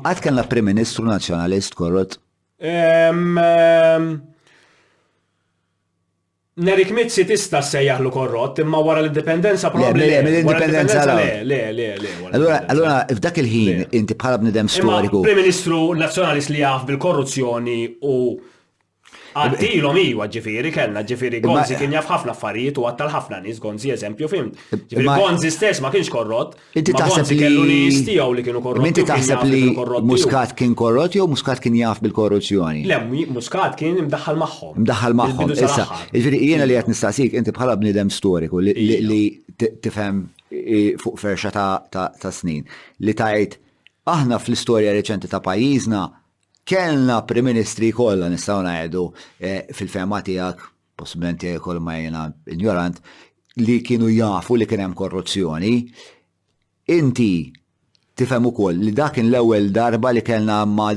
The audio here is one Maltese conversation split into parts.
Qatt kellna Prim Ministru Nazzjonalist korrott? Nerik Mizzi tista' ssejjaħlu korrott, imma wara l-indipendenza probabbli. Le, mill-indipendenza le. Le, le, le. Allura, allura f'dak il-ħin inti bħala bnidem storiku. Prim Ministru Nazzjonalist li jaf bil-korruzzjoni u Għaddilhom iwa ġifieri kellna ġifieri Gonzi kien jaf ħafna affarijiet u għattal ħafna nies Gonzi eżempju fim. Ġifieri Gonzi stess ma kienx korrott. Inti taħseb li kellu nies tiegħu li kienu korrotti. Inti taħseb li Muscat kien korrott jew Muscat kien jaf bil-korruzzjoni? Le, Muscat kien imdaħħal magħhom. Imdaħħal magħhom. Issa, ġifieri jiena li qed nistaqsik inti bħala bniedem storiku li tifhem fuq ferxa ta' snin li tgħid aħna fl-istorja reċenti ta' pajjiżna Kellna Prim Ministri kollha nistgħu ngħidu fil-fehma tiegħek, possibilment jekk ma jiena injorant, li kienu jafu li kien hemm korruzzjoni. Inti tifhem ukoll li dak kien l-ewwel darba li kellna ma'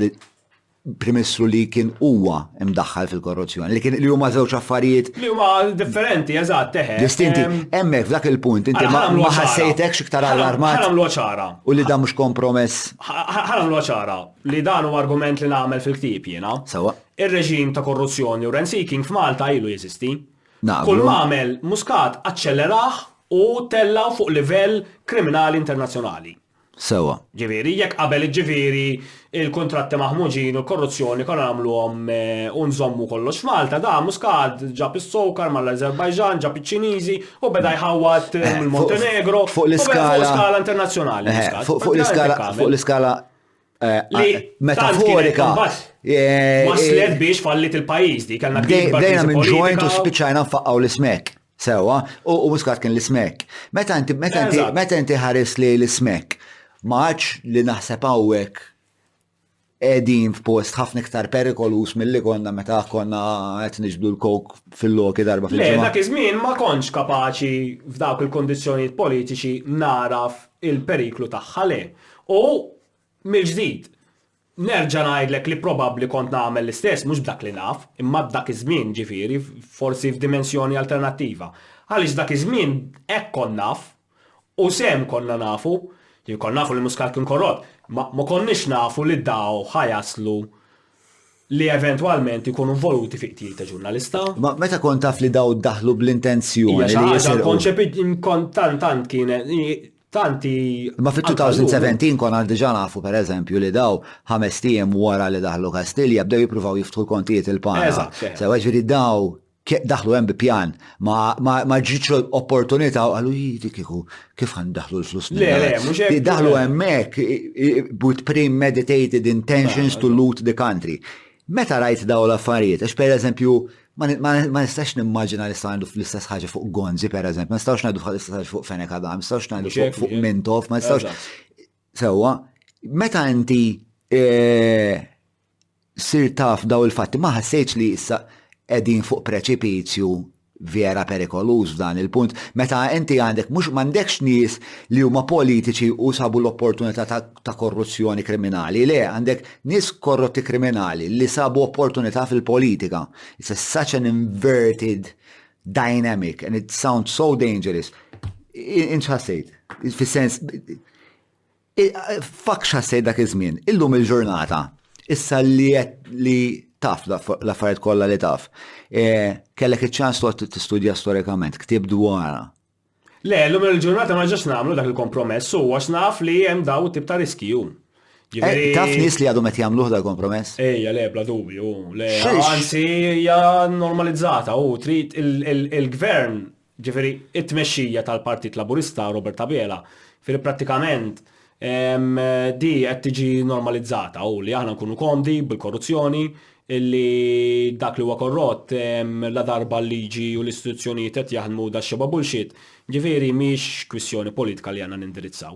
Prim Ministru li kien huwa mdaħħal fil-korruzzjoni, li kien li huma żewġ affarijiet. Li huma differenti, eżatt, eħe. Distinti. Hemmhekk f'dak il-punt inti ma ħassejtekx iktar allarmat. Ħa nagħmluha ċara. U li dan mhux kompromess. Ħa nagħmluha ċara. li dan huwa argument li nagħmel fil-ktieb jiena. Sewwa. Ir-reġim ta' korruzzjoni u rent-seeking f'Malta ilu jeżisti. Naqblu. Kull m'għamel Muscat aċċellerah u tellgħu fuq livell kriminali internazzjonali. Sewwa. Ġifieri, jekk qabel jiġġifieri l-kuntratti maħmuġin u l-korruzzjoni konna nagħmluhom u nżommu kollox f'Malta, dan Muscat ġab is-sokar mal-Ażerbajġan, ġab iċ-Ċiniżi u beda jħawwad mill-Montenegro. Fuq l-iskala. Fuq skala internazzjonali. Fuq l-iskala Eh, metaforika. Eh, Waslet eh, biex fallit il-pajis di, kellna Dejna minn ġojnt u spiċajna nfaqqaw l-ismek. Sewa, u muskat kien l-ismek. Meta inti, meta inti, meta inti ħares li l-ismek, maċ li naħseb għawek edin f'post ħafna iktar perikolus mill-li konna meta konna qed niġbdu l-kok fil-loki darba fil-ġimgħa. Le, dak iż-żmien ma kontx kapaċi f'dawk il-kondizzjonijiet politiċi naraf il-periklu tagħha le. U, mill-ġdid, nerġa' ngħidlek li probabbli kont nagħmel l-istess, mhux b'dak li naf, imma dak iż-żmien, ġifieri, forsi f'dimensjoni alternattiva. Għaliex dak iż-żmien hekk kont naf, u sehem konna nafu, konna nafu li Muscat kien korrott, imma ma konniex nafu li daw ħa jaslu li eventwalment ikunu involuti fi qtil ta' ġurnalista. Ma meta kont taf li daw daħlu bl-intenzjoni li jisirqu. Ija konċepit kont tant tant kienet tanti. Ma fit-2017 kon għal diġa nafu per eżempju li daw ħames tijem wara li daħlu Kastilja bdew jippruvaw jiftħu l-kontijiet il-pana. Sewa ġiri daw daħlu hemm bi pjan, ma ġietx opportunità u qalu jidi kieku kif għan daħlu l-flus minn. Le, le, mhux hekk. Daħlu hemmhekk with premeditated intentions to loot the country. Meta rajt daw l-affarijiet, għax per eżempju, ma nistax nimmaġina li sta' għandu fl-istess ħaġa fuq Gonzi, per eżempju, ma nistax għandu fl-istess ħaġa fuq Fenek Adam, ma nistax għandu fuq Mintof, ma nistax. Sewa, meta inti eh, sirt taf dawn il-fatti ma ħassejtx li issa qegħdin fuq preċipizju vera perikoluż f'dan il-punt meta inti għandek mhux m'għandekx nies li huma politiċi u sabu l-opportunità ta' ta' korruzzjoni kriminali, le, għandek nies korrotti kriminali li sabu opportunità fil-politika. It's a such an inverted dynamic and it sounds so dangerous. Inċħassejt, fis-sens Fakx ħassejt dak iż-żmien, illum il-ġurnata, issa li li taf l-affarijiet kollha li taf, e, kellek iċ-ċans toqgħod tistudja storikament, ktib dwarha. Le, illum il-ġurnata ma ġax nagħmlu dak il-kompromess u għax naf li hemm daw tip ta' riskju. Eh, taf nis li għadhom qed jagħmluh dal kompromess? Ejja, le, bla dubju, le. Anzi, hija normalizzata u trid il-gvern jiġifieri t-tmexxija tal-Partit Laburista, Robert Abela, jiġifieri prattikament di qed tiġi normalizzata u li aħna nkunu komdi bil-korruzzjoni, li dak li huwa korrott ladarba l-liġi u l-istituzzjonijiet qed jaħdmu daxxebgħa bullshit, jiġifieri mhix kwistjoni politika li għandna nindirizzaw.